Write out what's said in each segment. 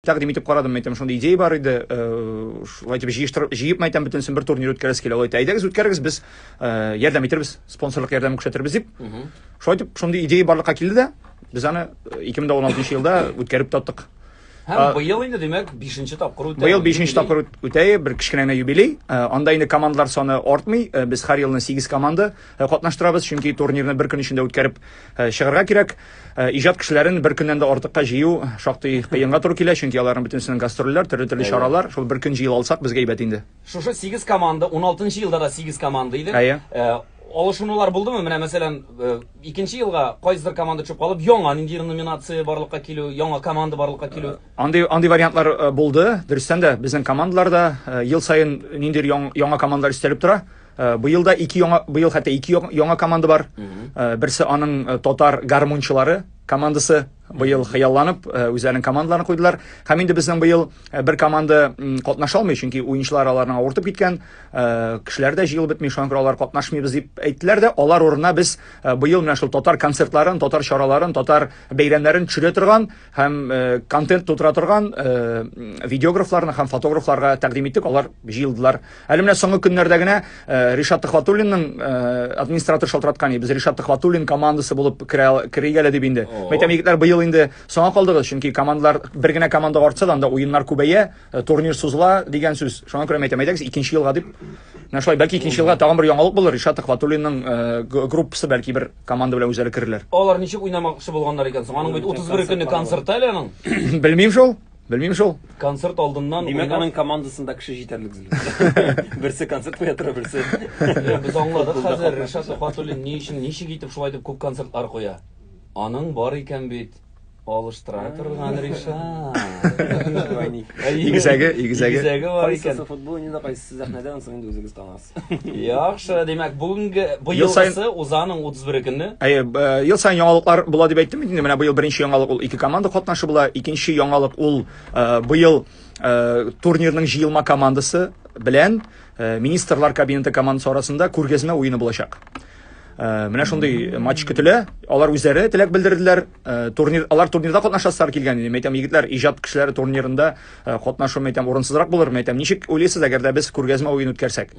Тәкъдим итеп карадым, мәйтәм, шундый идея бар иде, шулай итеп җыештырып, җыеп мәйтәм, бөтенесен бер турнир үткәрәсе килә. Алай итә, әйдәгез үткәрегез, без ярдәм итербез, спонсорлык ярдәме күрсәтербез дип. Шулай итеп, шундый идея барлыкка килде дә, без аны 2016 елда үткәреп таттык. Һәм быел инде, димәк, 5нче тапкыр үтә. Быел 5нче тапкыр үтә, бер кечкенә генә юбилей. Анда инде командалар саны артмый. Без һәр елны 8 команда катнаштырабыз, чөнки турнирны бер көн эчендә үткәреп чыгарга кирәк. Э, иҗат кешеләрен бер көннән дә артыкка җыю шактый кыенга туры килә, чөнки аларның бөтенесенең гастрольләр, төрле-төрле чаралар. Шул бер көн җыел алсак, безгә әйбәт инде. Шушы 8 команда, 16 елда да 8 команда иде. Әйе. Э, алышынулар булдымы? Менә мәсәлән, э, икенче елга кайсыдыр команда төшеп калып, яңа нинди номинация барлыкка килү, яңа команда барлыкка килү. Андый андый вариантлар булды. Дөрестән дә безнең командаларда ел саен ниндидер яңа командалар истәлеп тора. Э, быел да ике яңа быел хәтта ике яңа команда бар э, берсе аның э, татар гармунчылары командасы быел хыялланып үзләренең командаларын куйдылар һәм инде безнең быел бер команда катнаша алмый чөнки уенчылар аларның авыртып киткән кешеләр дә җыелып бетми шуңа күрә алар катнашмыйбыз дип әйттеләр дә алар урынына без быел менә шул татар концертларын татар чараларын татар бәйрәмнәрен төшерә торган һәм э, контент тутыра торган э, видеографларны һәм фотографларга тәкъдим иттек, алар җыелдылар. Әле менә соңгы көннәрдә генә э, Ришат Төхватуллинның э, администратор шалтыраткан иде. Без Ришат Төхватуллин командасы булып керәйгә әле дип инде. Мәйтәм егетләр быел инде соңа калдыгыз, чөнки командалар бер генә команда артса да анда уеннар күбәя, э, турнир сузыла дигән сүз. Шуңа күрә мәйтәм әйдәгез икенче елга дип. Менә шулай бәлки икенче елга тагын бер яңалык булыр. Ришат Төхватуллинның э, группасы бәлки бер Команда белән үзәре керерләр. Алар ничек уйнамакчы булганнар икән соң? Аның бит 31 көнне концерты әле аның. Белмим шул. Белмим шул. Концерт алдыннан Димәк, аның командасында кеше җитәрлек белмим. Берсе концерт куя тора, берсе. Без аңладык хәзер Ришат Сухатуллин ни өчен, ничек итеп шулай дип күп концертлар куя. Аның бар икән бит. Алыштыра торган Ришат. Игезәге, игезәге. Игезәге бар икән. Кайсысы футбол уйныйда, кайсысы сәхнәдә, ансын инде үзегез танасыз. Яхшы, димәк, бүгенге быел сайсы Узаның 31 көнне. Әйе, ел сайын яңалыклар була дип әйттем инде. Менә быел беренче яңалык ул ике команда катнашы була. Икенче яңалык ул быел турнирның җыелма командасы белән министрлар кабинеты командасы арасында күргәзмә уены булачак. Менә шундый матч көтелә. Алар үзләре теләк белдерделәр. Э, турнир алар турнирда катнашасызар килгән идем әйтәм егетләр иҗат кешеләре турнирында э, катнашу әйтәм урынсызрак булыр әйтәм ничек уйлыйсыз әгәр дә без күргәзмә уен үткәрсәк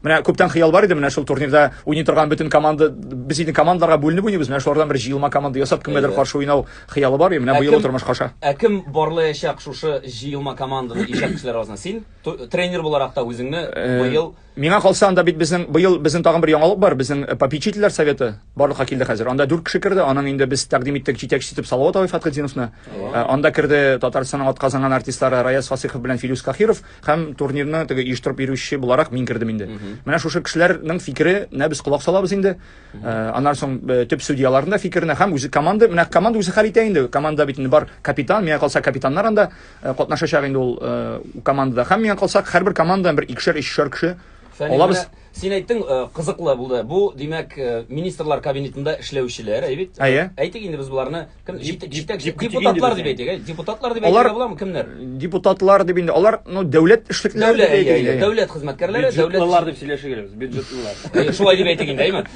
менә күптән хыял бар иде менә шул турнирда уйный торган бөтен команда без инде командаларга бүленеп уйныйбыз менә шулардан бер җыелма команда ясап кемгәдер каршы уйнау хыялы бар и менә быел тормышка аша ә кем барлаячак шушы җыелма команданы иҗат кешеләр арасында син тренер буларак та үзеңне э, быел Миңа калса, анда бит безнең быел безнең тагын бер яңалык бар, безнең э, попечительләр советы барлыкка килде хәзер. Анда дүрт кеше керде, аның инде без тәкъдим иттек җитәкче итеп Салават абый Фатхетдиновны. Э, анда керде Татарстанның атказанган артистлары Раяз Фасыйхов белән Филюс Кахиров һәм турнирны теге оештырып йөрүче буларак мин кердем инде. Менә шушы кешеләрнең фикеренә без колак салабыз инде. Э, аннан соң э, төп судьяларның да фикеренә һәм үзе команда, менә команда үзе хәл итә инде. Команда бит инде бар капитан, миңа калса капитаннар анда Э, катнашачак инде ул э, командада. Һәм миңа калсак, һәрбер командадан бер икешәр, өчшәр кеше алабыз. Син әйттең, э, кызыклы булды. Бу, димәк, министрлар кабинетында эшләүчеләр, әйбит. Әйе. Әйтик инде без буларны кем җитәк депутатлар дип әйтик, депутатлар дип әйтергә буламы кемнәр? Депутатлар дип инде. Алар, ну, дәүләт эшлекләре дип әйтик. Дәүләт хезмәткәрләре, дәүләт бюджетлылар дип сөйләшә геләбез, бюджетлылар. Шулай дип әйтик инде, әйме?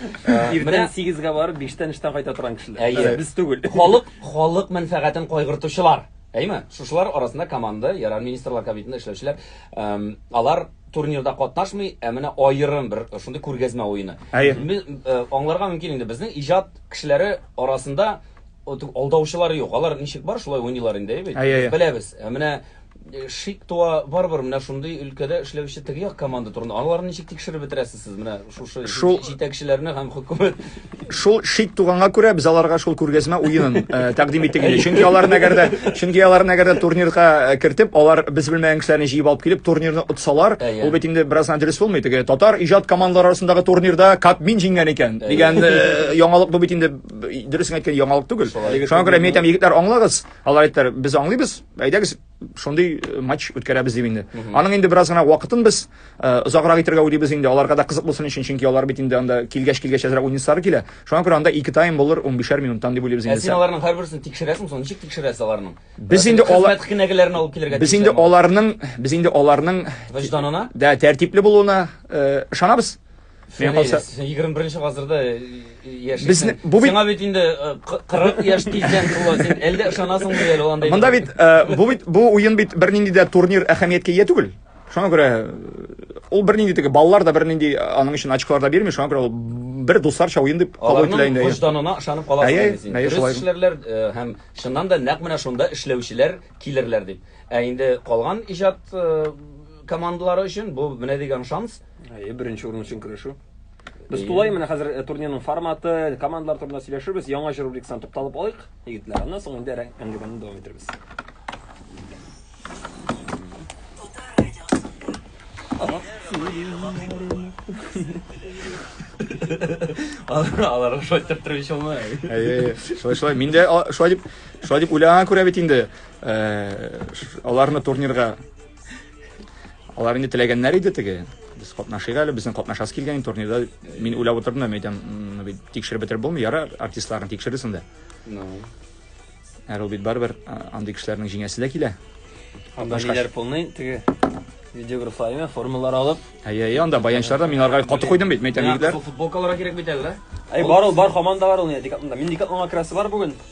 Иртән 8 га барып, 5 тән эштән кайта торган кешеләр. Без түгел. Халык, халык мәнфәгатен кайгыртучылар. Әйме? Шушылар арасында команда, Ярар Министрлар Кабинетында эшләүчеләр, алар турнирда катнашмый, ә менә аерым бер шундый күргәзмә уены. Аңларга мөмкин инде, безнең иҗат кешеләре арасында алдаучылары юк. Алар ничек бар, шулай уйныйлар инде, әйе бит? Беләбез. Ә менә шик туа, барыбер менә шундый өлкәдә эшләүче теге як команда турында, аларны ничек тикшереп бетерәсез? Сез менә шушы Шул- җитәкчеләрне һәм хөкүмәт Шул шик туганга күрә без аларга шул күргәзмә уенын э, тәкъдим иттек инде. Чөнки аларны әгәр дә чөнки аларны әгәр дә турнирга э, кертеп, алар без белмәгән кешеләрне җыеп алып килеп турнирны отсалар, Әйе. ул бит инде бераз гына дөрес булмый. Теге татар иҗат командалары арасындагы турнирда Кабмин җиңгән икән дигән э, яңалык бу бит инде б- дөресен әйткән яңалык түгел. Шуңа күрә мин әйтәм, егетләр, аңлагыз. Алар әйттеләр, без аңлыйбыз. Әйдәгез, шундый э, матч үткәрәбез дип инде аның инде бераз гына вакытын без э, озаграк итәргә уйлыйбыз инде аларга да кызык булсын өчен чөнки алар бит инде анда килгәч килгәч әзрәк уйныйсылары килә шуңа күрә анда ике тайм булыр унбишәр минуттан дип уйлыйбыз инде син аларның һәрберсен тикшерәсең соң ничек тикшерәсез аларның без инде алар кенәгәләрен алып килергә без инде аларның без инде аларның вөҗданына да тәртипле булуына э, ышанабыз Мин калса 21 гасырда яшисең. Сиңа бит инде 40 яшь тиздән тула син. Әллә ышанасың бу әле анда? Монда бит бу бит бу уен бит бернинди дә турнир әһәмияткә ия түгел. Шуңа күрә ул бернинди теге балалар да бернинди аның өчен очколар да бирми. Шуңа күрә ул бер дусларча уен дип кабул ителә инде. Аларның вожданына ышанып каласың син. Дөрес эшләрләр һәм чыннан да нәкъ менә шунда эшләүчеләр килерләр дип. Ә инде калган иҗат командалары өчен бу менә дигән шанс. Әйе, беренче урын өчен көрәшү. Без тулай менә хәзер э, турнирның форматы, командалар турында сөйләшербез. Яңа җыр рубрикасына тукталып алыйк, егетләр. Аннан соң инде әңгәмәне дәвам итәрбез. Алар шулай итеп торып ич алмый. Әйе, шулай шулай. Мин дә а, шулай дип, шулай дип уйлаган күрә бит инде. Э, ш- Аларны турнирга Алар инде теләгәннәр иде теге. Без катнашыйк әле, безнең катнашасы килгән турнирда. Мин уйлап утырдым да, әйтәм, бит тикшереп бетереп булмый, яра артистларны тикшерерсең инде. Ну. Әле ул бит барыбер андый кешеләрнең җиңәсе дә килә. Анда ниләр полный теге видеографлар имя формалар алып. Әйе, әйе, анда баянчылар да мин аларга каты куйдым бит, мәйтәм егетләр. Футболкаларга кирәк бит әле. Әй, бар ул, бар команда бар ул, дикатында. Мин дикатында красы бар бүген.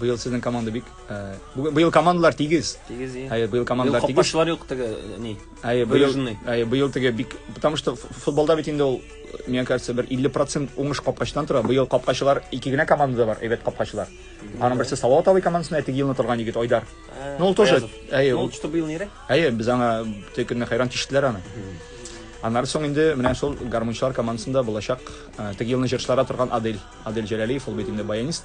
Быел сезнең команда бик э, бу- быел командалар тигез. Тигез и. Әйе, быел командалар тигез. Капкачылар юк теге э, ни. Әйе, быел, Выраженный. әйе, быел теге бик, потому что ф- футболда бит инде ул, мне кажется, бер 50% уңыш капкачыдан тора. Быел капкачылар ике генә командада бар, әйбәт капкачылар. Аның берсе Салават абый командасында, ә теге елны торган егет Айдар. Э, Ну, ул тоже, Аязов. әйе, Ну, ул- что быел нирәк? Әйе, без аңа теге көнне хәйран тиштеләр аны. Аннары соң инде менә шул гармунчылар командасында булачак э, теге елны җырчылара торган Адель. Адель Җәләлиев, ул бит инде баянист.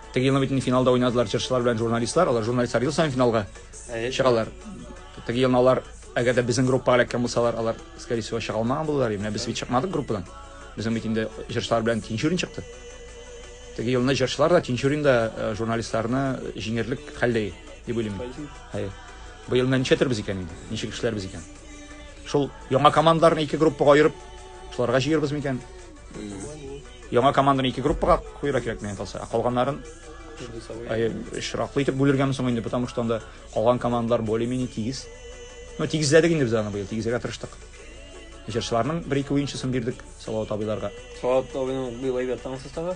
Теге елны бит инде финалда уйнадылар җырчылар белән журналистлар. Алар журналистлар ел саен финалга чыгалар. Теге елны алар, әгәр дә безнең группага эләккән булсалар, алар, скорее всего, чыга алмаган булалар. Менә без бит чыкмадык группадан. Безнең бит инде җырчылар белән Тинчурин чыкты. Теге елны җырчылар да Тинчурин да э, журналистларны җиңерлек хәлдә дип уйлыйм. Хәер. Быел менә ничәтербез икән инде? Ничек эшләрбез икән? Шул яңа командаларны ике группага аерып, шуларга җыербыз микән? Яңа команданы ике группага куйра кирәк менә талса. Ә калганнарын әй шраклы итеп бүлергәме соң инде, потому что анда калган командалар более-менее тигез. Ну, тигезләдек инде без аны быел, тигезләргә тырыштык. Җырчыларның бер-ике уенчысын бирдек Салават абыйларга. Салават абыйның быел әйбәт таң составы.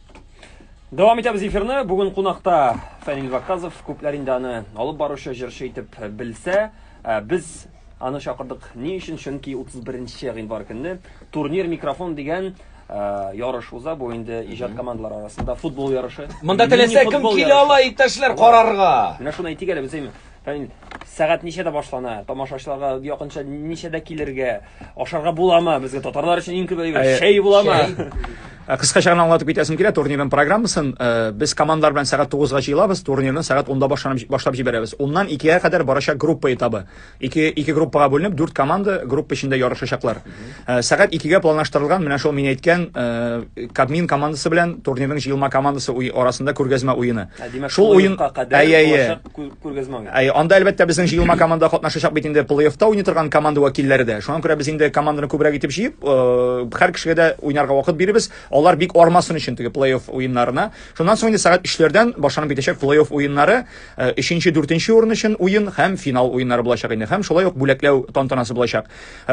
Дәвам итәбез эфирны. Бүген кунакта Фәнил Ваказов, күпләр инде аны алып баручы җырчы итеп белсә, ә, без аны чакырдык ни өчен? Чөнки 31 гыйнвар көнне турнир микрофон дигән ә, ярыш уза. Бу инде иҗат командалары арасында футбол ярышы. Монда теләсә кем Мини-футбол килә ярышы. ала, иптәшләр, карарга. Менә шуны әйтик әле без әйме. Әй, сәгать ничәдә башлана? Тамашачыларга якынча ничәдә килергә? Ашарга буламы? Безгә татарлар өчен иң күп әйбер Әй, чәй буламы? чәй. Ә, Кыскача гына аңлатып китәсем килә турнирның программасын. Э, Без командалар белән сәгать 9-га җыелабыз, турнирны сәгать 10-да башланып башлап җибәрәбез. Уннан 2-гә кадәр барачак группа этабы. Ике ике группага бүленеп, дүрт команда группа эчендә ярышачаклар. Э, Сәгать 2-гә планлаштырылган, менә шул мин әйткән э, Кабмин командасы белән турнирның җыелма командасы уй- арасында күргәзмә уены. Ә, димәк, Шул шул уен вакытка кадәр әйе, әйе. булачак күргәзмә уйнады. Әй, анда әлбәттә безнең җыелма команда катнашачак бит инде плей-оффта уйный торган команда вәкилләре дә. Шуңа күрә без инде команданы күбрәк итеп җыеп, һәр кешегә дә уйнарга вакыт бирибез. Алар бик армасын өчен теге плей-офф уеннарына. Шуннан соң инде сәгать өчләрдән башланып китәчәк плей-офф уеннары. Өченче, дүртенче урын өчен уен һәм финал уеннары булачак инде. Һәм шулай ук бүләкләү тантанасы булачак.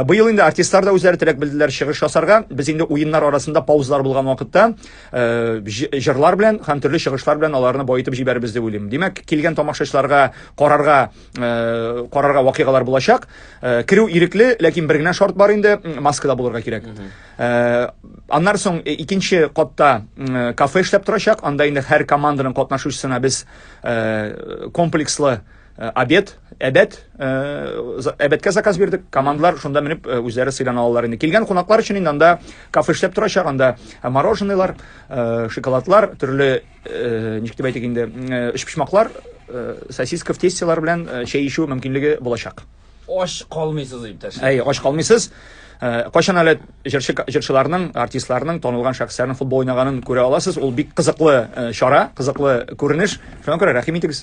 Быел инде артистлар да үзләре теләк белделәр чыгыш ясарга. Без инде уеннар арасында паузалар булган вакытта Э, җырлар белән һәм төрле чыгышлар белән аларны баетып җибәрбез дип уйлыйм. Димәк, килгән тамашачыларга карарга э, карарга вакыйгалар булачак. Э, керү ирекле, ләкин бер генә шарт бар инде, маскада булырга кирәк. Аннар соң икенче катта кафе эшләп торачак. Анда инде һәр команданың катнашучысына без комплекслы Э, обед, әбәт, э, әбәткә заказ бирдек. Командлар шунда менеп э, үзләре сыйлана алалар инде. Килгән кунаклар өчен инде анда кафе эшләп торачак, анда мороженыйлар, шоколадлар, төрле ничек дип әйтик инде, өчпочмаклар, сосиска в тестелар белән чәй ичү мөмкинлеге булачак. Ош калмыйсыз, иптәш. Әй, ош калмыйсыз. Э, кайчан әле җырчы җырчыларның артистларның танылган шәхесләрнең футбол уйнаганын күрә аласыз ул бик кызыклы э, чара кызыклы күренеш шуңа күрә рәхим итегез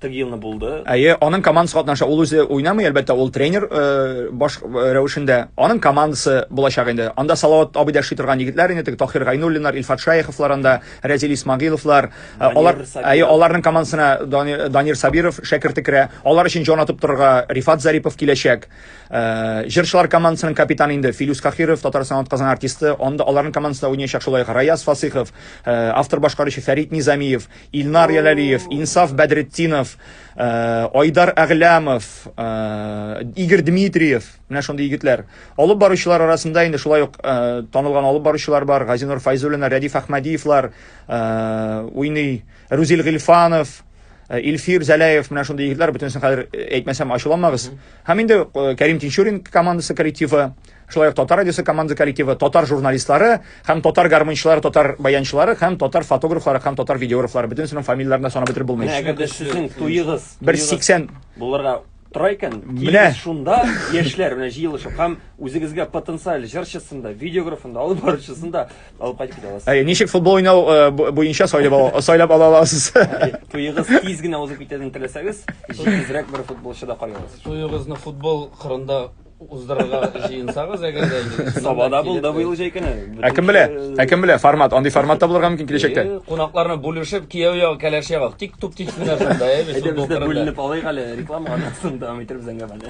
Теге елны булды. Әйе, аның командасы катнаша. Ул үзе уйнамый, әлбәттә, ул тренер э, баш э, рәвешендә. Аның командасы булачак инде. Анда Салават абый да эшли торган егетләр инде, теге Тахир Гайнуллиннар, Илфат Шаяховлар анда, Рәзил Исмагиловлар. Э, алар, әйе, аларның командасына Данир Сабиров шәкерте керә. Алар өчен җан атып торырга Рифат Зарипов киләчәк. Җырчылар командасының капитаны инде Филюс Кахиров, Татарстан атказан артисты. Анда аларның командасында уйнаячак шулай Раяз Фасыхов, автор башкаручы Фәрит Низамиев, Илнар Яләлиев, Инсаф Бәдретдинов, э, Айдар Әгъләмов, э, Игорь Дмитриев, менә шундый егетләр. Алып баручылар арасында инде шулай ук э, танылган алып баручылар бар, Газинур Файзуллина, Рәдиф Әхмәдиевлар, уйный Рузил Гильфанов, Э, Илфир Зәләев менә шундый егетләр бөтенесен хәзер э, әйтмәсәм ачуланмагыз. Һәм инде э, Кәрим Тинчурин командасы коллективы шулай ук татар радиосы команда коллективы татар журналистлары һәм татар гармончылары татар баянчылары һәм татар фотографлары һәм татар видеографлары бөтенесенең фамилияләрен дә санап бетереп булмый Менә әгәр дә сезнең туегыз бер туегыз сиксән булырга тора икән, Менә. килегез шунда яшьләр менә җыелышып һәм үзегезгә потенциаль җырчысын да, видеографын да, алып баручысын да алып кайтып китә аласыз. Әй, ничек футбол уйнау э, бу- буенча сайлап ала- сайлап ала аласыз Туегыз тиз генә узып китәден теләсәгез, җитезрәк бер футболчы да карый аласыз. Туегызны футбол кырында уздырырга җыенсагыз, әгәр дә инде Сабада булды быел җәй көне. Ә кем белә? Ә кем белә? Формат, андый формат та булырга мөмкин киләчәктә. Э, кунакларны бүлешеп, кияү ягы, кәләш ягы, тик туп тик менә шунда, ә без Әйдә, без дә бүленеп алыйк әле, реклама аннан дәвам итәрбез әңгәмәне.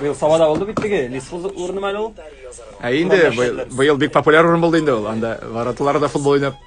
Быел Сабада булды бит теге, Лисфуз урыны мәле ул. Ә инде быел бик популяр урын булды инде ул. Анда вороталарда футбол уйнап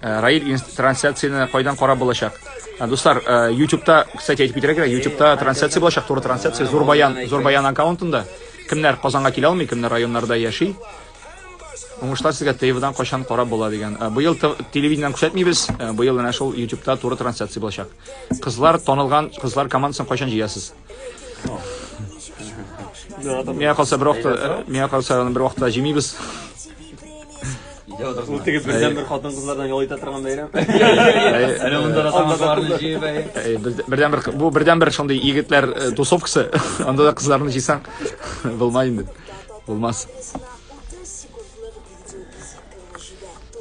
Э, Раиль трансляцияне кайдан карап булачак? Э, дуслар, э, YouTube-та, кстати, әйтеп китәргә кирәк, YouTube-та трансляция булачак, туры трансляция Зурбаян, Зурбаян аккаунтында. Кемнәр Казанга килә алмый, кемнәр районнарда яши? Уңышлар сезгә ТВ-дан кайчан карап була дигән. Быел телевидениедән күрсәтмибез, быел менә шул YouTube-та туры трансляция булачак. Кызлар танылган, кызлар командасын кайчан җыясыз? Миңа калса бер вакытта, э, миңа калса аны бер вакытта җимибез. Ул теге бердән бер хатын кызлардан ял итә торган бәйрәм. Әнә монда да самосварны җыеп әй. Әй, бер- Бердән бер бу бердән бер шундый егетләр э, тусовкасы. Анда да кызларны җыйсаң булмай инде. Булмас.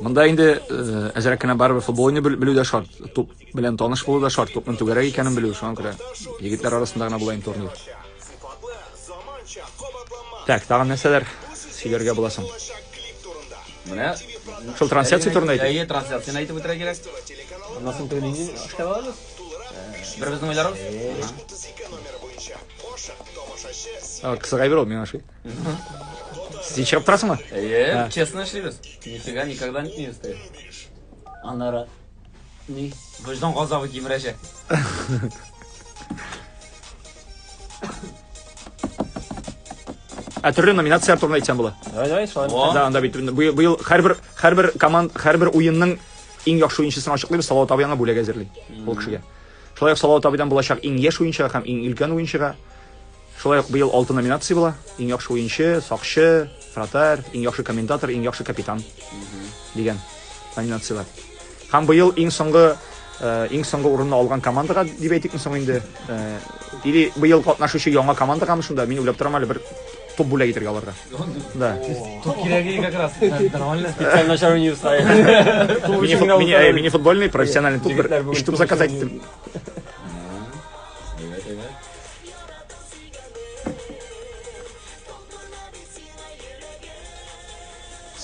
Монда инде э, әзрәк кенә барыбер футбол уйный бел- белү дә шарт. Туп Белән таныш булу да шарт, күпме түгәрәк икәнен белү, шуңа күрә. Егетләр арасында гына була инде турнир. Так, тагын нәрсәләр сөйләргә була соң? Менә шул трансляция турында әйтик. Әйе, трансляцияне әйтеп үтәргә кирәк. Аннан соң тегенең эшкә барабыз. Бер безнең уйларыбыз. Кысыгай бер ул миңа ошый. Сез ишеп торасыңмы? Әйе, честно эшлибез. Нифига никогда не стоит. Аннары Ни? Вөҗдан газабы кимерәчәк. Ә төрле номинацияләр турында әйтсәм була. Давай, давай, шулай. О. Да, анда бит быел, быел һәрбер һәрбер команд, һәрбер уенның иң яхшы уенчысын ачыклыйбыз. Салават абый аңа бүләк әзерли. Ул кешегә. Шулай ук Салават абыйдан булачак иң яшь уенчыга һәм иң өлкән уенчыга. Шулай ук быел алты номинация була, иң яхшы уенчы, сакчы, вратарь, иң яхшы комментатор, иң яхшы капитан дигән номинацияләр. Һәм быел иң соңгы э, иң соңгы урынны алган командага дип әйтик соң инде. Э, или быел катнашучы яңа командага мы шунда, мин уйлап торам әле бер топ бүләк итәргә аларга. Да. Тут кирәге как раз нормально. Специально шару не встает. Мини-футбольный, профессиональный туп, бер, еш туп заказать итеп.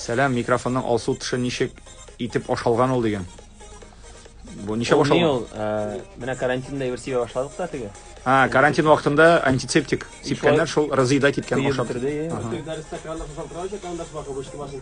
Сәлам, микрофонның алсу тышы ничек итеп ашалган ул дигән. Бу ничә Ул башланган? ел, э, менә карантинда әйбер сибә башладык та теге. А, карантин вакытында антисептик сипкәннәр шул разъедать иткән Кыеп ашап. бетерде, е. Ага. Дәрестә краннар салдырачак, анда шулар кабышты башын.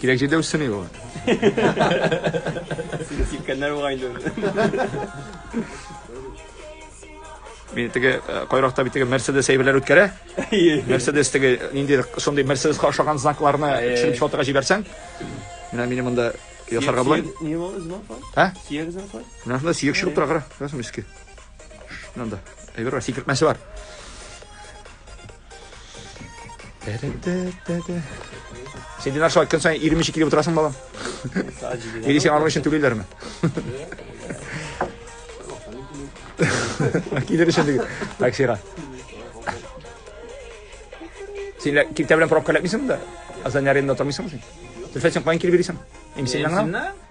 Кирәк җирдә үссен иде алар. Сине сипкәннәр бугай инде. Мин теге э, кайракта бит теге Mercedes әйберләр үткәрә. Mercedes теге нинди шундый Mercedesка ошаган знакларны төшереп сатырга җибәрсәң, менә минем монда ясарга була. Не было знак. Ә? Сияк знак. Менә шунда сиек чыгып тора, кара. Күрәсең иске. Шунда. Әйбер бар, сикертмәсе бар. Син динар шулай көн саен 22 килеп утырасың балам. Или сиңа аның өчен түлиләрме? Килер өчен диген. Таксига. Син лә- киртә белән пробка эләкмисеңме да? Азан аренда тормыйсыңмы син? Зөлфәт, син каян килеп йөрисең? Имсиннән генә? Имсиннән?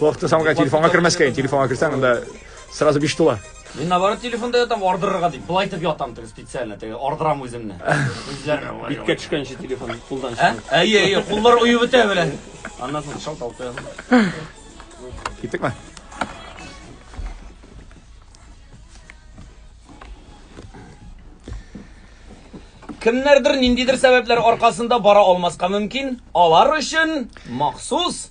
Вакытын самга телефонга кермәскә, телефонга керсәң, анда сразу биш тула. Мин наоборот телефонда ятам, ардырырга дип. Былай итеп ятам теге специально, теге ардырам үземне. Үзләрне. Биткә төшкәнче телефон кулдан чыгар. Әйе, әйе, куллар уеп бетә белән. Аннан соң шалт алты. Киттекме? Кемнәрдер ниндидер сәбәпләр аркасында бара алмаска мөмкин. Алар өчен махсус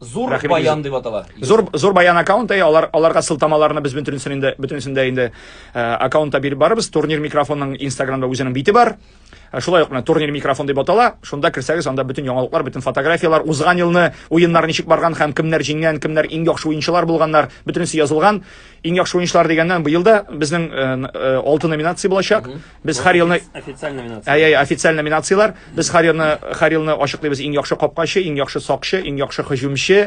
Зур Рәхим баян итегез. дип атала. Зур зур баян аккаунты, алар аларга сылтамаларны без бөтенесен инде бөтенесен дә инде э, аккаунтта биреп барыбыз. Турнир микрофонның Инстаграмда үзенең бите бар. Э, Шулай ук менә турнир микрофон дип атала. Шунда керсәгез, анда бөтен яңалыклар, бөтен фотографиялар, узган елны уеннар ничек барган һәм кемнәр җиңгән, кемнәр иң яхшы уенчылар булганнар, бөтенесе язылган. Иң яхшы уенчылар дигәннән быел да безнең э, н- э, алты номинация булачак. Без һәр елны официаль номинация. Әй, әй, официаль номинацияләр. Без һәр елны һәр елны ачыклыйбыз иң яхшы капкачы, иң яхшы сакчы, иң яхшы һөҗүмче,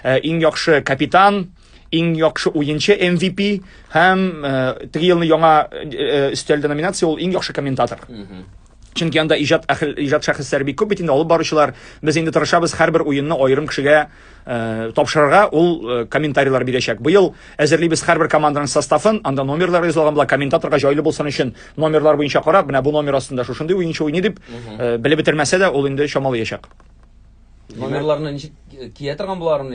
э, иң яхшы капитан, иң яхшы уенчы MVP һәм э, теге елны яңа э, өстәлде номинация ул иң яхшы комментатор. Чөнки анда иҗат әхел иҗат шәхесләре бик күп бит инде алып баручылар. Без инде тырышабыз һәрбер уенны аерым кешегә Э, тапшырырга ул э, комментарийлар бирәчәк. Быел әзерлибез һәрбер команданың составын, анда номерлар язылган була, комментаторга җайлы булсын өчен номерлар буенча карап, менә бу номер астында шушындый уенчы уйный дип, э, белеп бетермәсә дә, ул инде чамалаячак. Номерларны ничек кия торган буларын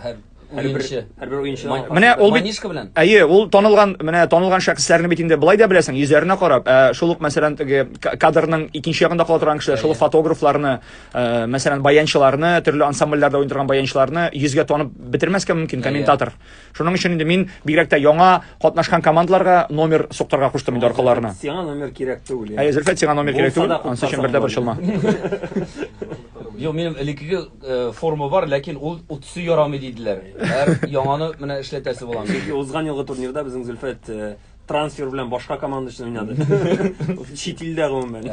һәр уенчы. Һәрбер уенчы. Менә ул бит Манишка белән. Әйе, ул танылган, менә танылган шәхесләрне бит инде былай да беләсең, йөзләренә карап, ә шул ук мәсәлән теге кадрның икенче ягында кала торган кешеләр, шул фотографларны, Э, мәсәлән баянчыларны төрле ансамбльләрдә уйный торган баянчыларны йөзгә танып бетермәскә мөмкин комментатор шуның өчен инде мин бигрәк тә яңа катнашкан командаларга номер суктырга куштым инде аркаларына сиңа номер кирәк түгел әйе зөлфәт сиңа номер кирәк түгел анысы өчен бер дә борчылма Юк, минем элеккеге э, форма бар, ләкин ул утсы ярамый диделәр. Һәр яңаны менә эшләтәсе булам. Чөнки узган елгы турнирда безнең Зөлфәт э, трансфер белән башка команда өчен уйнады. Чит илдә гомумән.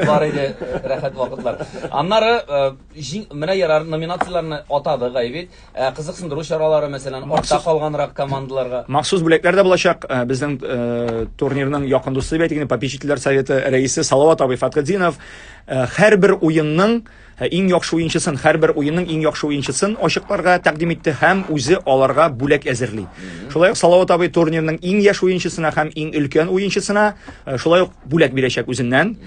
Бар иде рәхәт вакытлар. Аннары менә ярар номинацияләрне атады Гайвит. Кызыксындыру чаралары, мәсәлән, артта калганрак командаларга. Махсус бүләкләр дә булачак. Безнең турнирның якын дусты бит, ягъни попечительләр советы рәисе Салават абый Фатхетдинов һәрбер уенның Ә иң яхшы уенчысын, һәрбер уенның иң яхшы уенчысын ачыкларга тәкъдим итте һәм үзе аларга бүләк әзерли. Шулай ук Салават абый турнирның иң яшь уенчысына һәм иң өлкән уенчысына э, шулай ук бүләк бирәчәк үзеннән.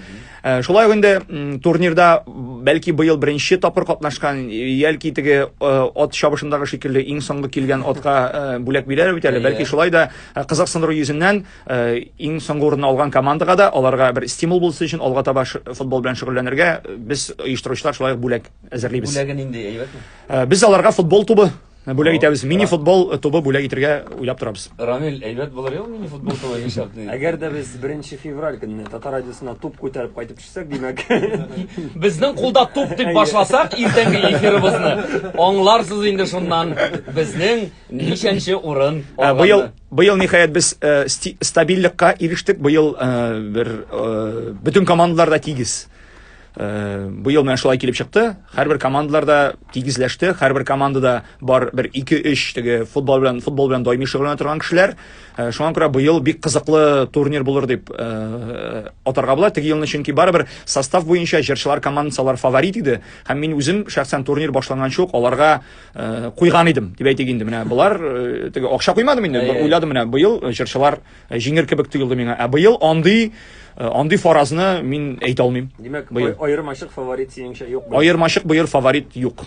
Э, шулай ук инде турнирда бәлки быел беренче тапкыр катнашкан яки теге э, ат чабышындагы шикелле иң соңгы килгән атка э, бүләк бирәләр бит әле бәлки шулай да кызыксындыру йөзеннән Э, иң соңгы урынны алган командага да аларга бер стимул булсын өчен алга таба футбол белән шөгыльләнергә э, без оештыручылар шулай ук бүләк әзерлибез бүләге нинди әйбәтме э, без аларга футбол тубы бүләк итәбез мини футбол тубы бүләк итергә уйлап торабыз рамил әйбәт булыр ел мини футбол тубы нишләп әгәр дә без беренче февраль көнне татар радиосына туп күтәреп кайтып төшсәк димәк безнең кулда туп дип башласак иртәнге эфирыбызны аңларсыз инде шуннан безнең ничәнче урын быел Быел ниһаять без э, сти- стабильлекка ирештек. Быел э, бер э, бөтен командалар да тигез. Э, Быел менә шулай килеп чыкты. Һәрбер командалар да тигезләште. Һәрбер командада бар бер 2-3 теге футбол белән футбол белән даими шөгыльләнә торган кешеләр. Э, Шуңа күрә быел бик кызыклы турнир булыр дип э, атарга була. Теге елны чөнки барыбер состав буенча җырчылар командасы алар фаворит иде. Һәм мин үзем шәхсән турнир башланганчы ук аларга Э, куйган идем дип әйтик инде менә болар э, теге акча куймадым инде бер уйладым менә быел э, җырчылар җиңер кебек тоелды миңа ә быел андый андый фаразны мин әйтә алмыйм димәк аермачык фаворит синеңчә юк аермачык быел фаворит юк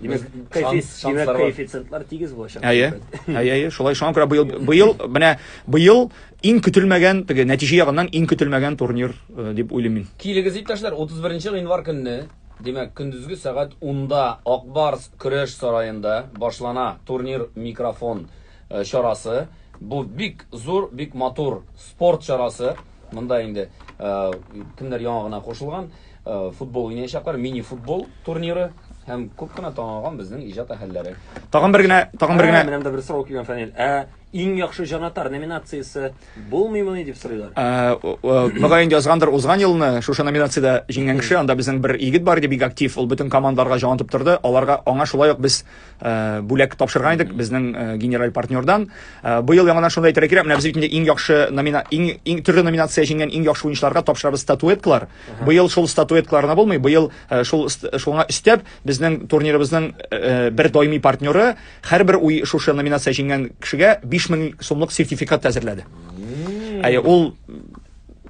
димәк коэффициентлар тигез булачак әйе әйе әйе шулай шуңа күрә быел быел менә быел иң көтелмәгән теге нәтиҗә ягыннан иң көтелмәгән турнир э, дип уйлыйм мин килегез иптәшләр 31 гыйнвар көнне Димәк, көндезге сәгать унда Ак Барс көрәш сараенда башлана турнир Микрофон чарасы. Бу бик зур, бик матур спорт чарасы. Монда инде кемнәр яңа гына кушылган, футбол уйнаячаклар, мини-футбол турниры һәм күп кенә танылган безнең иҗат әһелләре. Тагын бер генә, тагын бер генә. Ә, менә монда бер сорау килгән, Фәнил. Ә Иң яхшы җанатар номинациясе булмыймыни дип сорыйлар. Мөгаен язгандыр узган елны шушы номинациядә җиңгән кеше, анда безнең бер егет бар иде, бик актив, ул бөтен командаларга җан атып торды, аларга аңа шулай ук без бүләк тапшырган идек безнең генераль партнердан. Быел яңадан шуны да әйтергә кирәк, менә без бит инде иң яхшы номина, иң, иң төрле номинация җиңгән иң яхшы уенчыларга тапшырабыз статуэткалар. Быел шул статуэткалар гына булмый, быел шул, шуңа өстәп, безнең турнирыбызның бер даими партнеры, Һәрбер уй шушы номинация җиңгән кешегә 5000 сумлык сертификат әзерләде. Әйе, ул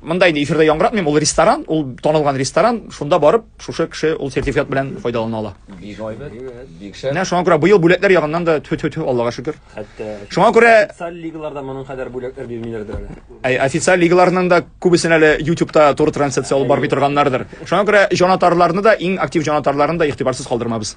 монда инде эфирда яңгыратмыйм, ул ресторан, ул танылган ресторан, шунда барып, шушы кеше ул сертификат белән файдалана ала. Бик гайбәт, бик шәп. Менә шуңа күрә быел бүләкләр ягыннан да тфү-тфү-тфү, Аллага шөкер. Хәтта Шуңа күрә социаль лигаларда моның кадәр бүләкләр бирмиләрдер әле. Әй, официаль лигаларның да күбесен әле YouTube-та туры трансляция алып бармый торганнардыр. Шуңа күрә җанатарларны да, иң актив җанатарларны да игътибарсыз калдырмабыз.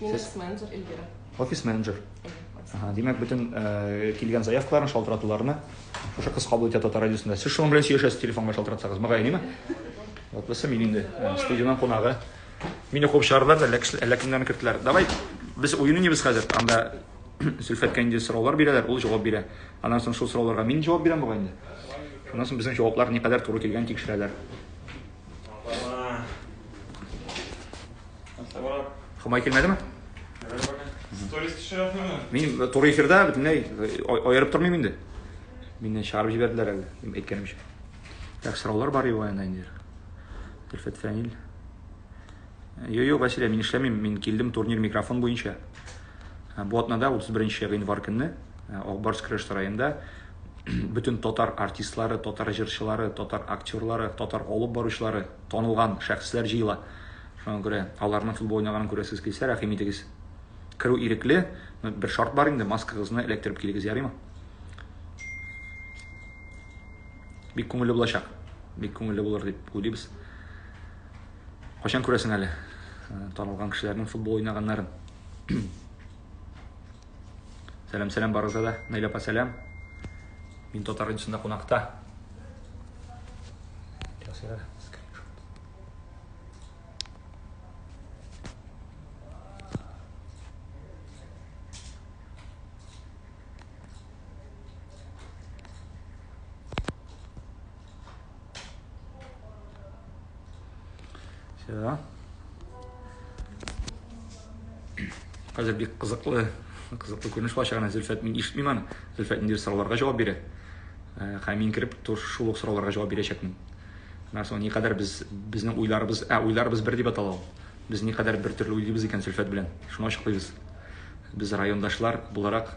Мин Сез- менеджер Эльвира. Офис менеджер. Ага, димәк, бөтен э, килгән заявкаларны, шалтыратуларны шушы кыз кабул итә татар радиосында. Сез шуның белән сөйләшәсез телефонга шалтыратсагыз, мөгаен, ниме? Вот булса мин инде э, студиянең кунагы. Мине куып чыгардылар да, әллә кеше- әллә кемнәрне керттеләр. Давай, без уен уйныйбыз хәзер. Анда Зөлфәткә инде сораулар бирәләр, ул җавап бирә. Аннан соң шул сорауларга мин җавап бирәм бугай инде. Шуннан соң безнең җаваплар никадәр туры килгән тикшерәләр. Хомай килмәдеме? Сторис төшерәсеңме? Мин туры эфирда бөтенләй аерып тормыйм инде. Мине чыгарып җибәрделәр әле, әйткәнемчә. Так, сораулар бар юк анда инде. Тилфет Фәнил. Йо, йо, Василия, мин эшләмим, мин килдем турнир микрофон буенча. Бу атнада 31 январь көнне Акбарс Крыш сараенда бөтен татар артистлары, татар җырчылары, татар актерлары, татар алып баручылары, танылган шәхесләр җыела. Шуңа күрә аларның футбол уйнаганын күрәсез килсә, рәхим итегез. Керү ирекле, бер шарт бар инде, маскагызны эләктереп килегез, ярыймы? Бик күңелле булачак. Бик күңелле булыр дип уйлыйбыз. Кайчан күрәсең әле э, танылган кешеләрнең футбол уйнаганнарын? Сәлам, сәлам барыгызга да. Наилә апа, сәлам. Мин татар радиосында кунакта. Все. Хәзер бик кызыклы, кызыклы күренеш булачак. Әнә Зөлфәт мин ишетмим аны. Зөлфәт ниндидер сорауларга җавап бирә. Э, Хәм мин кереп тур шул ук сорауларга җавап бирәчәкмен. Менә соң никадәр без безнең уйларыбыз, ә уйларыбыз бер дип атала ул. Без никадәр бер төрле уйлыйбыз икән Зөлфәт белән. Шуны ачыклыйбыз. Без райондашлар буларак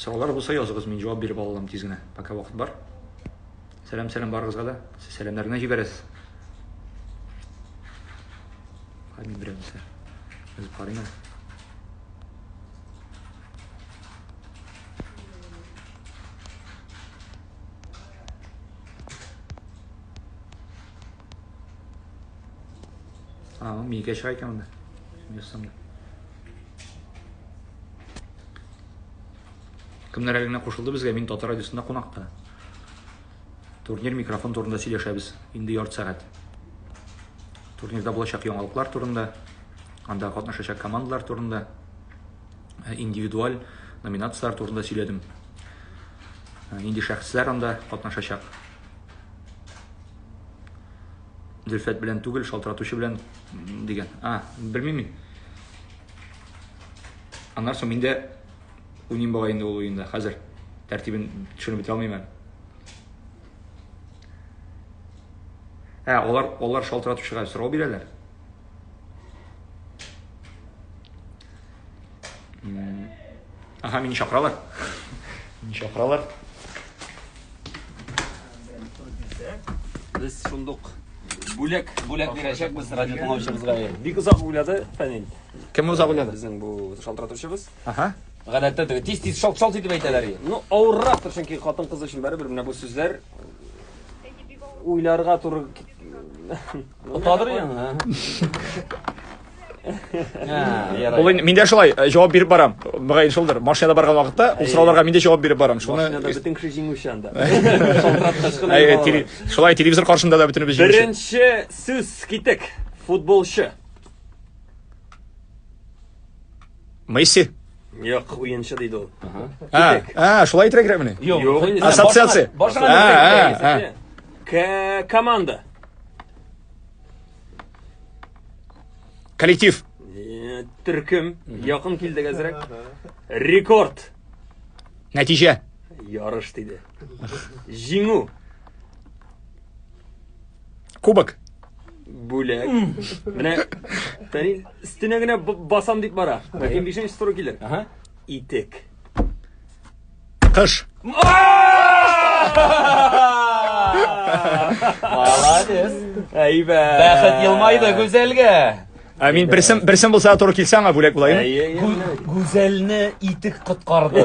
Сораулар булса языгыз, мин җавап биреп ала алам тиз генә, пока вакыт бар. Сәлам, сәлам барыгызга да. Сез сәламнәр генә җибәрәсез. Хәмин берәмсә. Без карыйм. А, мигә чыга икән монда. Ясамда. Кемнәр әле генә кушылды безгә, мин Татар радиосында кунакта. Турнир микрофон турында сөйләшәбез, инде ярты сәгать. Турнирда булачак яңалыклар турында, анда катнашачак командалар турында, э, индивидуаль номинацияләр турында сөйләдем. Э, нинди шәхесләр анда катнашачак? Зөлфәт белән түгел, шалтыратучы белән дигән. А, белмим мин. Аннан соң мин дә уйныйм бугай инде ул уенда. Хәзер тәртибен төшенеп бетә алмыйм әле. Ә, алар, алар шалтыратучыга сорау бирәләр. Ага, мине чакыралар. Мине чакыралар. Без шундук бүләк, бүләк бирәчәкбез радио тыңлаучыбызга. Бик озак уйлады Фәнил. Кем уза беләде? Безнең бу шалтыратучыбыз. Ага. Гадәттә теге тиз тиз шалт шалт итеп әйтәләр. Ну, авыррактыр, чөнки хатын кыз өчен барыбер менә бу сүзләр уйларга туры Отадыр яңа. Ул мин дә шулай э, җавап биреп барам. Мөгаен шулдыр. Машинада барган вакытта ул сорауларга мин дә җавап биреп барам. Шуны Машинада бөтен кеше җиңүче анда. Шулай телевизор каршында да бөтенебез җиңүче. Беренче сүз китек. Футболчы. Месси. Юк, уенчы диде ул. А, а, шулай итәргә мени? Юк, Юк. Ассоциация. Башка А, а, а. нәрсә. К- Команда. Коллектив. Э, Төркем. Якын килдек әзрәк. Рекорд. Нәтиҗә. Ярыш диде. Җиңү. Кубок. Бүләк. Менә тәни өстенә генә басам дип бара. Ләкин бишенче туры килер. Ага. Итек. Кыш. Молодец. Әйбәт. Бәхет елмайды гүзәлгә. Ә мин берсем берсем булса туры килсә аңа бүләк булайым. Гүзәлне итек коткарды.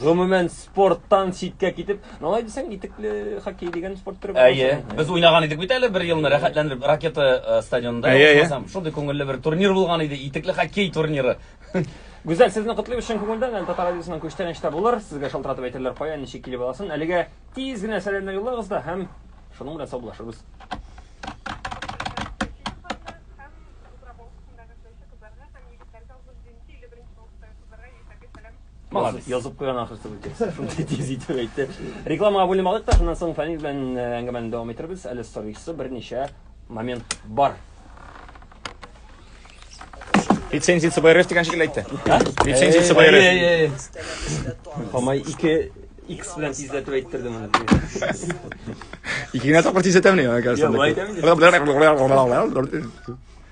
Гомумән спорттан читкә китеп, ну алай дисәң, итекле хоккей дигән спорт төре бар. Әйе, без уйнаган идек бит әле бер елны рәхәтләнеп ракета э, стадионында. Әйе, әйе. Ичмасам, Шундый күңелле бер турнир булган иде, итекле хоккей турниры. Гүзәл, сезне котлыйм чын күңелдән. Әле Татар радиосының күчтән эштә булыр. Сезгә шалтыратып әйтерләр кая, ничек килеп аласын. Әлегә тиз генә сәламнәр юллагыз да һәм шуның белән саубуллашырбыз. Молодец. Язып куйган ахрысы бу текст. Шундый тиз итеп әйтте. Рекламага бүленеп алдык та, шуннан соң Фәнил белән э, әңгәмәне дәвам иттербез. Әле сорыйсы берничә момент бар. Лицензия ЦБРФ дигән шикелле әйтте. Лицензия Э, ЦБРФ. Хамай 2 X белән тизләтеп әйттерде моны. Ике генә тапкыр тизләтәмени, Я, кажется. былай әйтәм инде.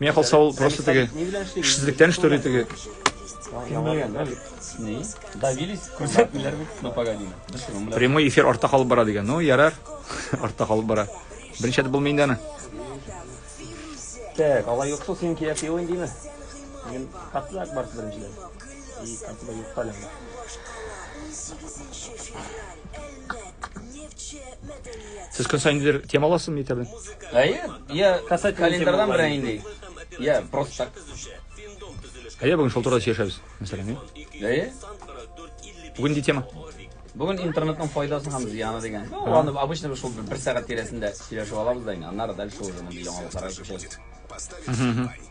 Миңа калса ул просто теге эшсезлектән штори теге. Давились, күрсәтмиләр бит, но погоди. Прямой эфир артта калып бара дигән. Ну, ярар. Артта калып бара. Беренче булмый инде аны. Так, алай юкса син кия сыйлыйм димә. Мин катлак бар беренчедән. И катлак юк таләм. Сез көн сайын нидер тема аласызмы мәктәптән? Әйе, я Касательно календарьдан темалар. берәй инде. Я просто так. Әйе, бүген шул турыда сөйләшәбез. Мәсәлән, әйе. Әйе. Бүген нинди тема? Бүген интернетның файдасы һәм зыяны дигән. Ну, аны обычно без шул бер сәгать тирәсендә сөйләшеп алабыз да инде. Аннары дальше уже мондый яңалыкларга күчәбез.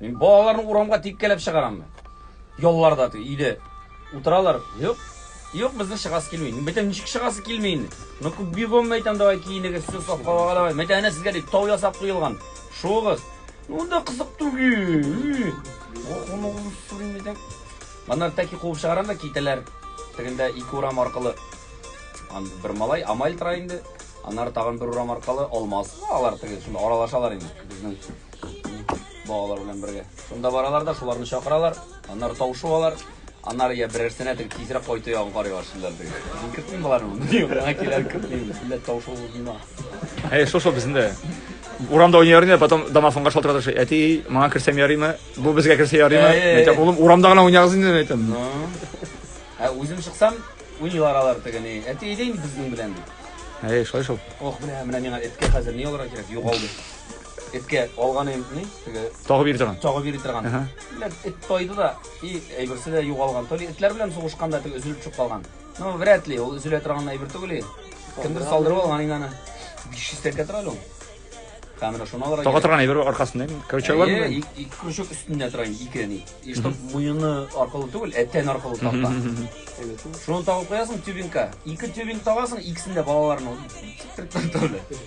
Мин балаларны урамга тиккәләп чыгарам. Ялларда ту, иде. Утыралар. Юк. Юк, безнең чыгасы килми. Бетем ничек чыгасы килми инде. Ну күп бигом мәйтәм давай киенегез, сез сапка багалавай. Мәйтәм әнә сезгә дип тау ясап куелган. Шугыз. Ну да кызык түгел. Охону сүрин мәйтәм. Маннар тәки куып чыгарам да китәләр. Тегендә ике урам аркылы. Ан бер малай амаль тора инде. Аннары тагын бер урам аркылы алмаз. Алар теге шунда аралашалар инде. Безнең Балалар белән бергә. Шунда баралар да, шуларны чакыралар, аннары тавышу алар. Аннары я берәрсенә тек тизрәк кайту ягын карыйлар шулар бер. Мин көтмим боларны, мин гына киләр көтмим, бөтенләй тавышу булмыйма. Әй, шушы безендә. Урамда уйнар иде, потом домофонга шалтырата төшә. Әти, маңа керсәм ярыймы? Бу безгә керсә ярыймы? Әй, әй, Мин әйтәм, әй. улым, урамда гына уйнагыз инде, мин әйтәм. Ну. Ә үзем чыксам, уйныйлар алар тегене. Әти әйдә инде безнең белән. Әй, шулай шул. Ох, менә менә миңа эткә хәзер ни алырга кирәк? Югалды. Эткә алган инде ни, теге Тагы бирде торган. чагы бирде торган. Ага. Димәк, эт тайды да, и әйберсе дә югалган. То ли этләр белән сугышканда теге өзелеп төшеп калган. Ну, вряд ли, ул өзелә торган әйбер түгел. и. Кемдер салдырып алган инде аны. 500 тәкә тора әле ул. Һәм менә шуны алырга. Тагы кирәк. торган әйбер аркасында. инде. Короче, алар Әйе, ик- ике крючок өстендә тора инде, ике ни. И чтоб муены аркылы түгел, ә тән аркылы такта. Шуны тагып куясың тюбингка. Ике тюбинг тагасың, икесен дә балаларның. Тик-тик-тик-тик.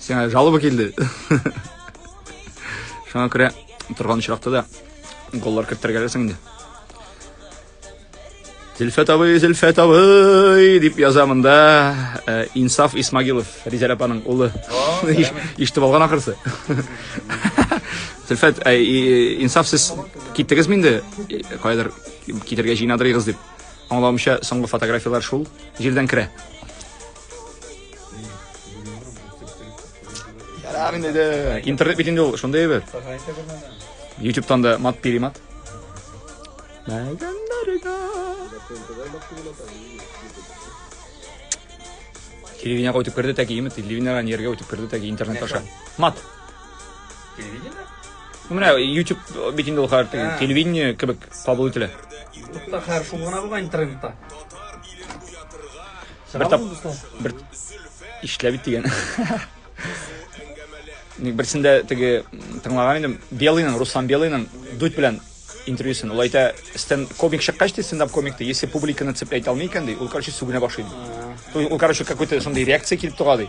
Сиңа жалоба килде. Шуңа күрә торган очракта да голлар кертергәләсең инде. Зөлфәт абый, Зөлфәт абый дип яза монда э, Инсаф Исмагилов, Ризәл апаның улы. Иштеп алган ахырсы. Зөлфәт, э, Инсаф сез киттегезме инде? Э, кайдыр китергә җыенадырыгыз дип. Аңлавымча, соңгы фотографияләр шул җирдән керә. Ярар инде дә. Интернет бит инде ул, шундый әйбер. Ютубтан да мат перемат. Мәгәннәргә. Телевидение өтеп керде тәки, имет телевидениедан ергә үтеп керде тәки интернет аша. Мат. Телевидение? Ну, менә YouTube бит инде ул хәр телевидение кебек кабул ителә. Тукта хәр шул гына булган интернетта. Бер тап... Бер... Ишләбит дигән. Ник берсендә теге тыңлаган идем, Белыйның, Руслан Белыйның дуть белән интервьюсын. Ул әйтә, стен комик чыккач ди стендап комикты, если публиканы цеплять алмый икән ди, ул короче сүгенә башлый. Ул короче какой-то шундый реакция килеп тора ди.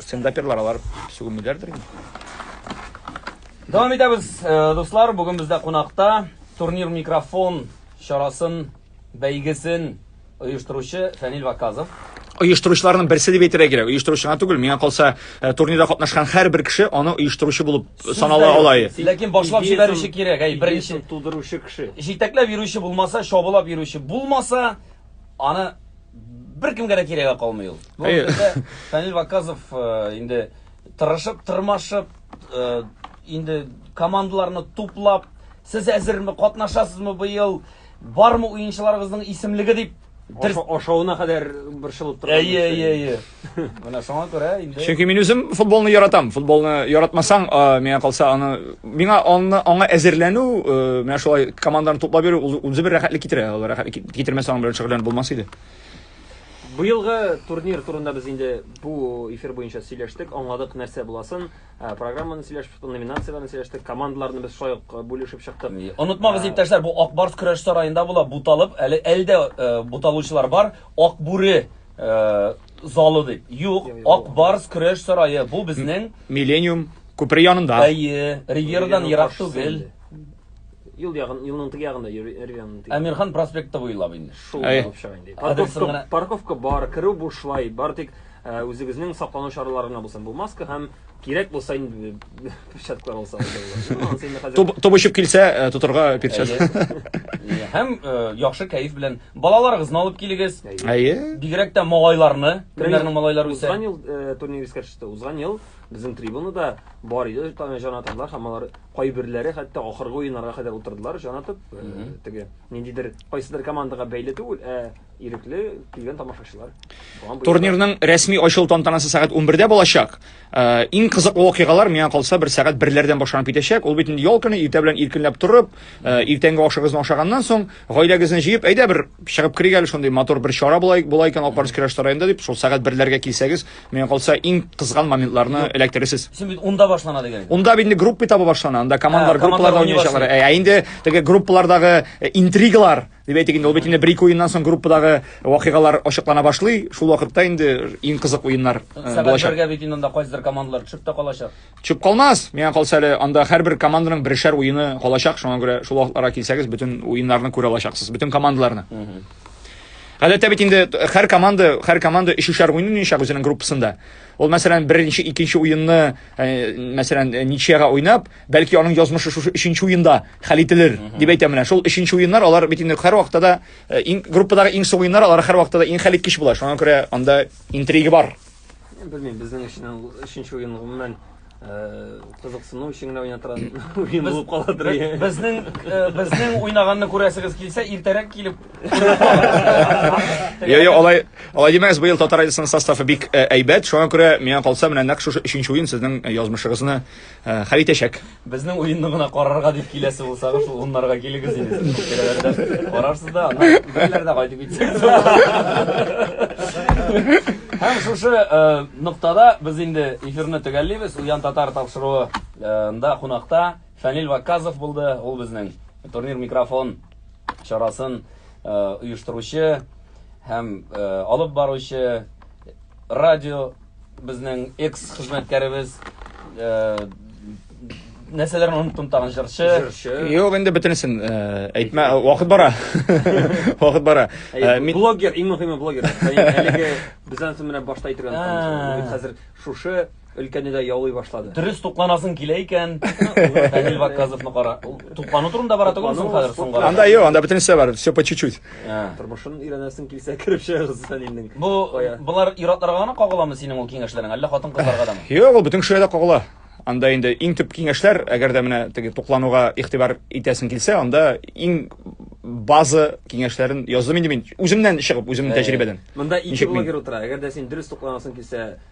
Стендаперлар алар сүгенмиләрдер инде. Дәвам итәбез, э, дуслар. Бүген бездә кунакта турнир микрофон чарасын, бәйгесен оештыручы Фәнил Ваказов. оештыручыларның берсе дип әйтергә кирәк. Оештыручы гына түгел, миңа калса, э, турнирда катнашкан һәрбер кеше аны оештыручы булып санала ала. и. Ләкин башлап җибәрүче кирәк, әй, беренче. Идеясын тудыручы кеше. Җитәкләп йөрүче булмаса, чабулап йөрүче булмаса, аны беркемгә дә кирәге калмый ул. Бу Әйе. хакта Фәнил Ваказов э, инде тырышып, тырмашып, э, инде командаларны туплап, сез әзерме, катнашасызмы быел, бармы уенчыларыгызның исемлеге дип дер- Аша- Ашавына кадәр борчылып торган. Әйе, нәрсә. әйе, әйе. Менә шуңа күрә инде Чөнки мин үзем футболны яратам. Футболны яратмасаң, а, миңа калса, аны миңа аны аңа әзерләнү, э, менә шулай команданы туплап йөрү ул үзе бер рәхәтлек китерә. Ул рәхәтлек кит- китермәсә аның белән шөгыльләнеп булмас иде. Быелгы турнир турында без инде бу эфир буенча сөйләштек, аңладык нәрсә буласын. Ә, Программаны сөйләшеп, номинацияләрне сөйләштек, командаларны без шулай ук э, бүлешеп чыктык. Онытмагыз, иптәшләр, бу Акбарс көрәш сараенда була, буталып, әле әлдә э, буталучылар бар. Акбүре Э, залы дип. Юк, Ак Барс көрәш сарае. Бу безнең Миллениум күпер янында. Әйе, Ривьерадан ерак түгел. Юл ягын, юлның теге ягында, Ривьераның теге. Әмирхан проспекты буйлап инде. Шул булып чыга инде. Парковка, парковка бар, керү бушлай, бар тик э, үзегезнең саклану чаралары гына булсын. Бу маска һәм кирәк булса инде Перчаткалар алсаң да була. Тоб очып килсә, э, тотырга перчатка. Әйе. Һәм э, яхшы кәеф белән балаларыгызны алып килегез. Әйе. Бигрәк тә малайларны, кемнәрнең малайлары үсә. Узган ел э, турнир искә төште. Узган ел безнең трибунада бар иде таны җанатарлар һәм алар кайберләре хәтта ахыргы уеннарга кадәр утырдылар җанатып э, теге ниндидер кайсыдыр командага бәйле түгел ә ирекле килгән тамашачылар Турнирның рәсми ачылу тантанасы сәгать 11-дә булачак. Э, иң кызыклы вакыйгалар миңа калса бер сәгать берләрдән башланып китәчәк ул бит инде ял көне иртә белән иркенләп торып э, иртәнге ашыгызны ашаганнан соң гаиләгезне җыеп әйдә бер чыгып керик әле шундый матур бер чара була була икән алып барыгыз керәш районында дип шул сәгать берләргә килсәгез миңа калса иң кызган моментларны эләктерерсез син бит унда башлана дигән унда бит инде группа этабы башлана анда командалар группаларда уйнаячаклар ә инде теге группалардагы э, интригалар Дип әйтик инде, ул бит инде бер-ике уеннан соң группадагы вакыйгалар ачыклана башлый. Шул вакытта инде иң кызык уеннар э, булачак. Сәбәпләргә бит инде анда кайсыдыр командалар төшеп тә калачак. Төшеп калмас. Миңа калса әле анда һәрбер команданың бершәр уены калачак. Шуңа күрә шул вакытларга килсәгез, бөтен уеннарны күрә алачаксыз, бөтен командаларны. Гадәттә бит инде һәр команда, һәр команда өчешәр уен уйнаячак үзенең группасында. Ул мәсәлән, беренче, икенче уенны, э, мәсәлән, э, ничьяга уйнап, Бәлки аның язмышы шушы өченче уенда хәл ителер, дип әйтәм менә. Шул өченче уеннар алар бит инде һәр вакытта да э, иң группадагы иң соң уеннар алар һәр вакытта да иң хәл иткеч була. Шуңа күрә анда интрига бар. Белмим, безнең өчен ул өченче уен гомумән э, кызыксыну өчен генә уйнатыран уен булып каладыр. Бе- Безнең э, безнең уйнаганны күрәсегез килсә, иртәрәк килеп. Я, я, алай, алай димәгез, быел татар радиосының составы бик э, әйбәт. Шуңа күрә миңа калса, менә нәкъ шушы өченче уен сезнең э, язмышыгызны Э, хәл итәчәк. Безнең уенны гына карарга дип киләсе булсагыз, шул уннарга килегез инде. Киләләрдә карарсыз да, аннан бәйләрдә кайтып китсәк. Һәм шушы э, ноктада без инде эфирны төгәллибез. Уян татар тапшыруында э, кунакта Фәнил Ваказов булды. Ул безнең турнир микрофон чарасын оештыручы һәм алып баручы радио Безнең экс-хезмәткәребез э, нәрсәләрне оныттым тагын җырчы. Җырчы. Юк, инде бөтенесен э, әйтмә, вакыт бара. Вакыт бара. Э, Әй, мин- Блогер, иң мөһиме блогер. Яни Әлеге без ансын менә башта әйтергән А. танышыбыз. Бит Хәзер шушы өлкәне дә яулый башлады. Дөрес тукланасың килә икән. Фәнил Ваказовны кара. Ул Туклану турында бара түгел соң хәзер соңга. Анда юк, анда бөтенесе бар, все по чуть-чуть. Тормышын өйрәнәсең килсә, кереп чыгыгыз Фәнилнең. Бу болар иратларга гына кагыламы синең ул киңәшләрең, әллә хатын-кызларга дамы? Юк, ул бөтен кешегә дә кагыла. Анда инде иң төп киңәшләр, әгәр дә менә теге туклануга игътибар итәсең килсә, анда иң база киңәшләрен яздым инде мин үземнән чыгып, үземнең тәҗрибәдән. Монда ике блогер утыра. Әгәр дә син дөрес тукланасың килсә,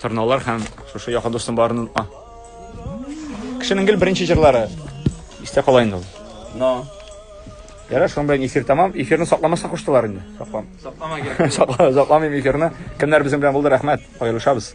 Торналар һәм шушы якын дустым барын онытма. Кешенең гел беренче җырлары. Истә кала инде ул. Но. Ярар, шуның белән эфир тәмам. Эфирны сакламаса куштылар инде. Саклам. Саклама кирәк. Сакламыйм эфирны. Кемнәр безнең белән булды, рәхмәт. Аерылышабыз.